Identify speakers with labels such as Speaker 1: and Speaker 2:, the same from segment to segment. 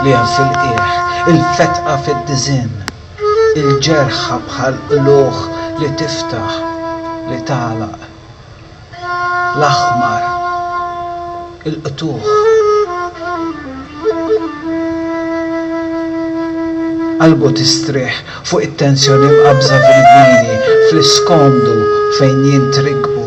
Speaker 1: L-għen fil-qiegħ, il-fetqa fid-diżinn, il-ġerħa bħal qlugħ li tiftaħ, li tagħlaq, l-aħmar, il-qtugħ. Qalbu tistrieħ fuq it-tensjoni mqabbża fil-vini, fl-iskomdu fejn jintrikbu.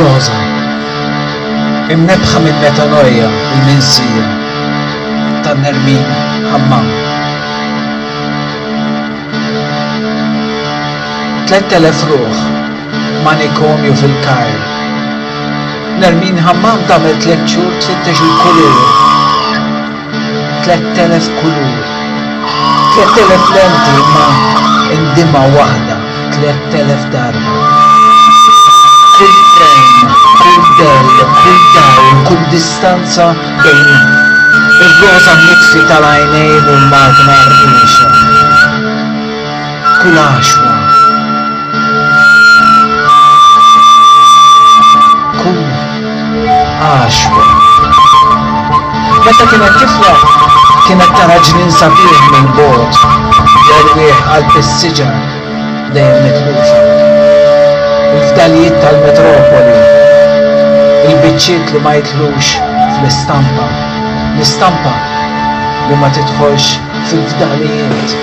Speaker 1: Rosa, imnebħa minn metanoja u l-minsija ta' Nermin Hammam. 3000 ruħ manikomju fil-Kajr Nermine Hammam tagħmel tliet xhur tfittex il-kulur. Tlett elef kulur. Tlett elef lenti imma indimgħa waħda tlett elef darba. Kull frame, kull dell, kull dawl, kull distanza bejn ir-roża mitfi tal-għajnejn u l-magna rriexa. Kulashwa. Kulashwa. Meta kienet tifla, kienet tara ġnien sabiħ minn bogħod jerwieħ qalb is-siġar dejjem mitlufa. Il-fdalijiet tal-metropoli, il-biċċiet li ma jitlux fl-istampa, l-istampa li ma tidħolx fil-fdalijiet.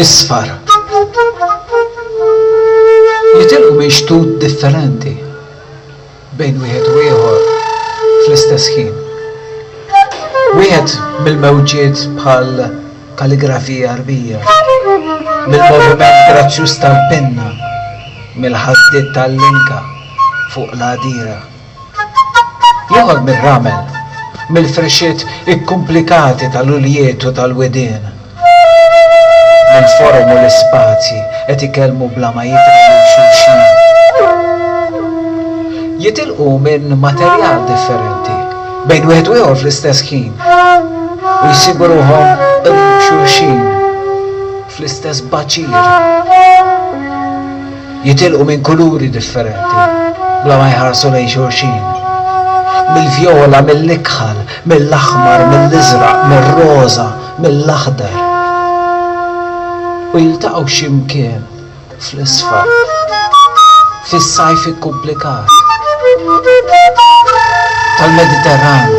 Speaker 1: isfar jitilqu minn xtut differenti bejn wieħed u ieħor fl-istess ħin. Wieħed mill-mewġiet bħal kalligrafija rbija, mill-moviment grazzjuż tal-penna, mill-ħasdiet tal-linka fuq l-għadira. Joħorg mir-ramel, mill-frixxiet ikkumplikati tal-uljiet u tal-widien, mill-forom u l-ispazji, qed ikellmu bla ma jidhru lil xulxin. Jitilqu minn materjal differenti, bejn wieħed u ieħor fl-istess ħin, u jsibu ruħhom qrib xulxin, fl-istess baċir. jitilqu minn kuluri differenti bla ma jħarsu lejn xulxin. Mill-vjola, mill-ikħal, mill-aħmar, mill-iżraq, mir-roża, mill-aħdar. U jiltaqgħu xi mkien fl-isfar. Fis-sajf ikkumplikat tal-Mediterran.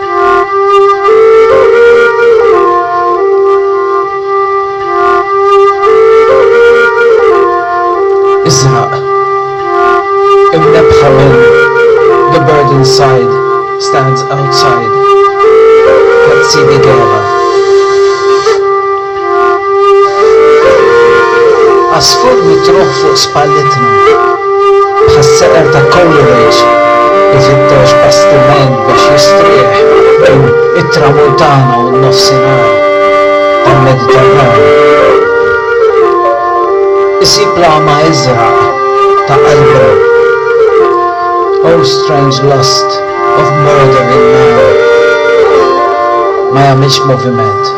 Speaker 1: Iżraq. Imnebbħa minn The Bird Inside Stands Outside ta' Ziggy Gera. Għasfur mitruħ fuq spallitna, bħas-seqer ta' Coleridge, ifittex bastiment biex jistrieħ bejn it-Tramuntana u n-Nofsinhar tal-Mediterran. Isib l-għama iżraq ta' qalbu. O strange lust of murdering man! Ma jagħmilx moviment.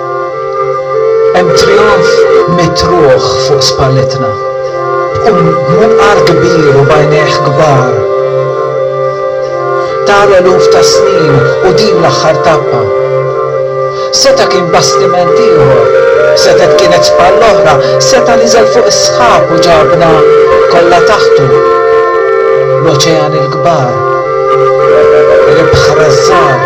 Speaker 1: Hemm trijonf mitruħ fuq spalletna, b'munqar kbir u b'għajnejh kbar ta' l-eluf ta' snin u din l-aħħar tappa. Seta' kien bastiment ieħor, setgħet kienet spalla oħra, seta' niżel fuq is-sħab u ġabna kollha taħtu, l-oċeani l-kbar, l-ibħra ż-żgħar.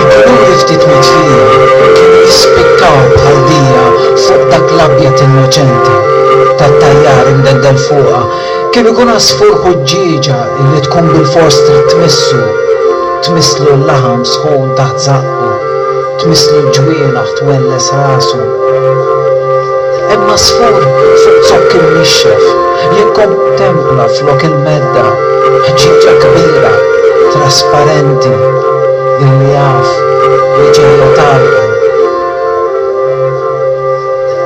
Speaker 1: Il-kuluri ftit mitfijin kienu jispikkaw bħal dija fuq dak l-abjad innoċenti tat-tajjar imdeddel fuqha. Kien ikun għasfur ħuġġieġa illi tkun bilfors trid tmissu, tmisslu l-laħam sħun taħt żaqqa. u twisslu l-ġwienaħ twelles rasu. Hemm għasfur fuq zokk imnixxef jikkontempla flok il-medda ħġieġa kbira trasparenti illi jaf li ġejja tardu.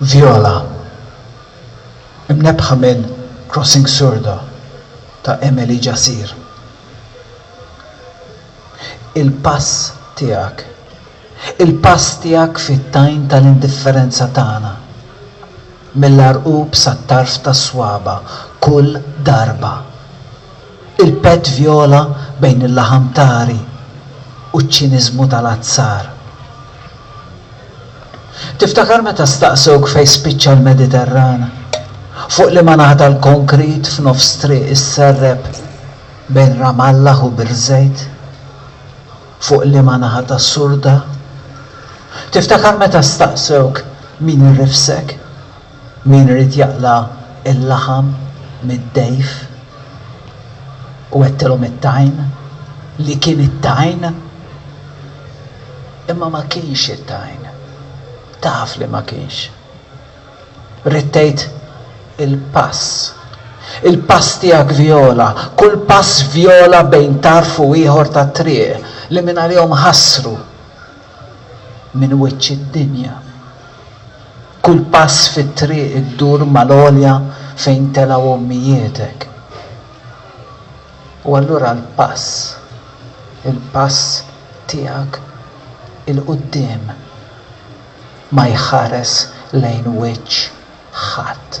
Speaker 1: Viola, imnebbħa minn Crossing Sordo ta' Emily Jacir. Il-pass tiegħek. Il-pass tiegħek fit-tajn tal-indifferenza tagħna. Mill-għarqub sat-tarf tas-swaba', kull darba. Il-pett vjola bejn il-laħam tari u ċ-ċiniżmu tal-azzar. Tiftakar meta staqsewk fejn spiċċa l-Mediterran? Fuq liema naħa tal-konkrit f'nofs triq is-Serrep bejn Ramallah u Birzeit? Fuq liema naħa tas-Surda? Tiftakar meta staqsewk min irrifsek? Min irid jaqla' l-laħam mid-dgħif u għedtilhom it-tajn li kien it-tajn, imma ma kienx it-tajn, taf li ma kienx. Ridt tgħid il-pass. Il-pass tiegħek vjola, kull pass vjola bejn tarf u ieħor tat-triq li mingħalihom ħassru minn wiċċ id-dinja. Kull pass fit-triq iddur mal-għolja fejn telgħu ommijietek. U allura l-pass, il-pass tiegħek 'il quddiem ma jħares lejn wiċċ ħadd.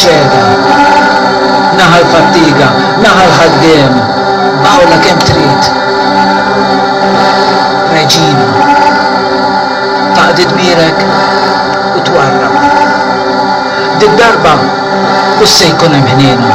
Speaker 1: Xehda. Naħa l-fattiga, naħa l-ħaddiem. B'Alla kemm trid. Reġina. Taqdi dmirek u twarrab. Did-darba mhux se jkun hemm ħniena.